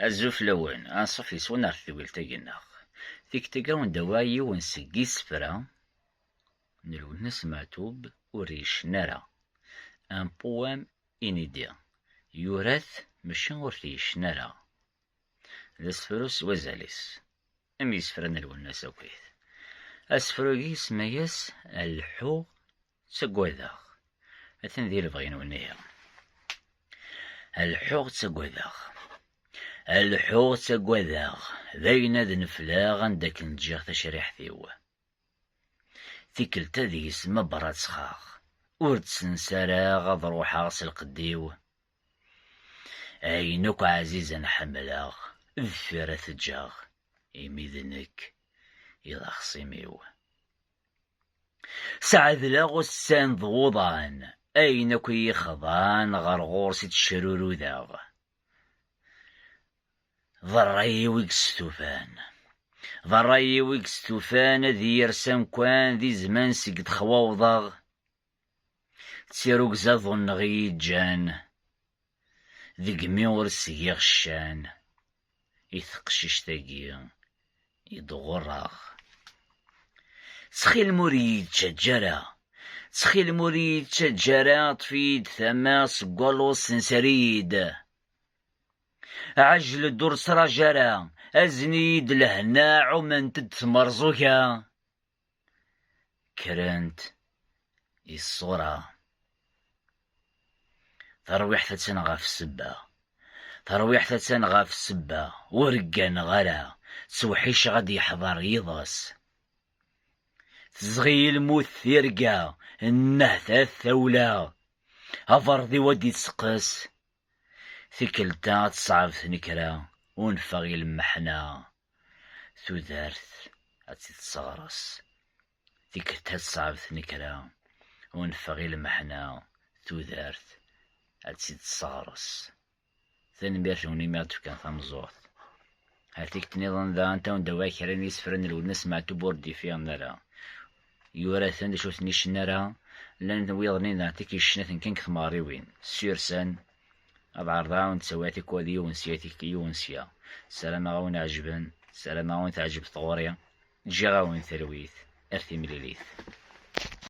Azul fell-awen, anṣuf yes-wen ɣer tedwilt-agi nneɣ. Tikti-ga ur d-awiɣ yiwen seg yisefra n Lwennas Meɛtub ur d-yecna ara, un poème inédit, yura-t maca ur t-yecna ara. D asefru s wazal-is, am yisefra n Lwennas akkit. Asefru-agi isemma-yas Lḥu. Ttagadeɣ, atan di lebɣi-nwen ihi. Leḥḥuɣ ttagadeɣ, leḥḥuɣ ttagadeɣ, d ayen ad nefleɣ anda akken ǧǧiɣ tacriḥt-iw. Tikkelt-a deg-s ma brattxeɣ, ur d-ssensareɣ ad ruḥeɣ s lqedd-iw. Ayen akk ɛzizen ḥemmleɣ, deffir ad t-ǧǧeɣ, imi d nekk i d axṣim-iw. Sɛedleɣ ussan d wuḍan, ayen akk i yi-xḍan ɣer ɣur-s i ttecrurudeɣ, d rray-iw i yestufan. D rray-iw i yestufan ad iyi-res amkan di zzman seg d-xwawḍeɣ D tirugza ḍunneɣ i yi-ǧǧan, degmi ur s-giɣ ccan i teqcict-agi i d-ɣurreɣ. Ttxil-m ur iyi-ttaǧǧa ara, ttxil-m ur iyi-ttaǧǧa ara, ṭṭef-iyi-d tama seg waluḍ ssenser-iyi-d. Ɛejl-d ur ttṛaǧ ara, azen-iyi-d lehna ɛument-d tmerẓuga. kkrent i ṣṣura. Tarwiḥt attan ɣef sebba. Tarwiḥt attan ɣef sebba. Ur gganeɣ ara. Ttewḥiceɣ ad d-yeḥḍer yiḍes. Tezɣi-yi lmut tirga, nnehtat tawla. Aberḍiw ad d-itteqqes. Tikkelt-a ad teṣɛeb tnekra, unfeɣ i lmeḥna. tudert ad tt-id-tesseɣres, tikkelt ad tesɛeb tnekra, unfeɣ i lmeḥna, tudert ad tt-id-tesseɣres. Tanemmirt-nwen imi ad d-tefkan tameẓẓuɣt. Ar tikkelt niḍen da, anta wen d-awiɣ kra n yisefra n Lwennas Meɛtub ur d-ifiɣen ara. Yura-ten d acu ur ten-icen ara, llan wiḍen-in daɣen tikk yecna-ten kan deg tmeɣriwin, Sursan, ad ɛerḍeɣ ad nttawiɣ tikwal yiwen sya yiwen sya sarameɣ a wen-ɛejben sarameɣ a wen-teɛjeb tɣuri ǧǧiɣ-awen talwit ar timlilit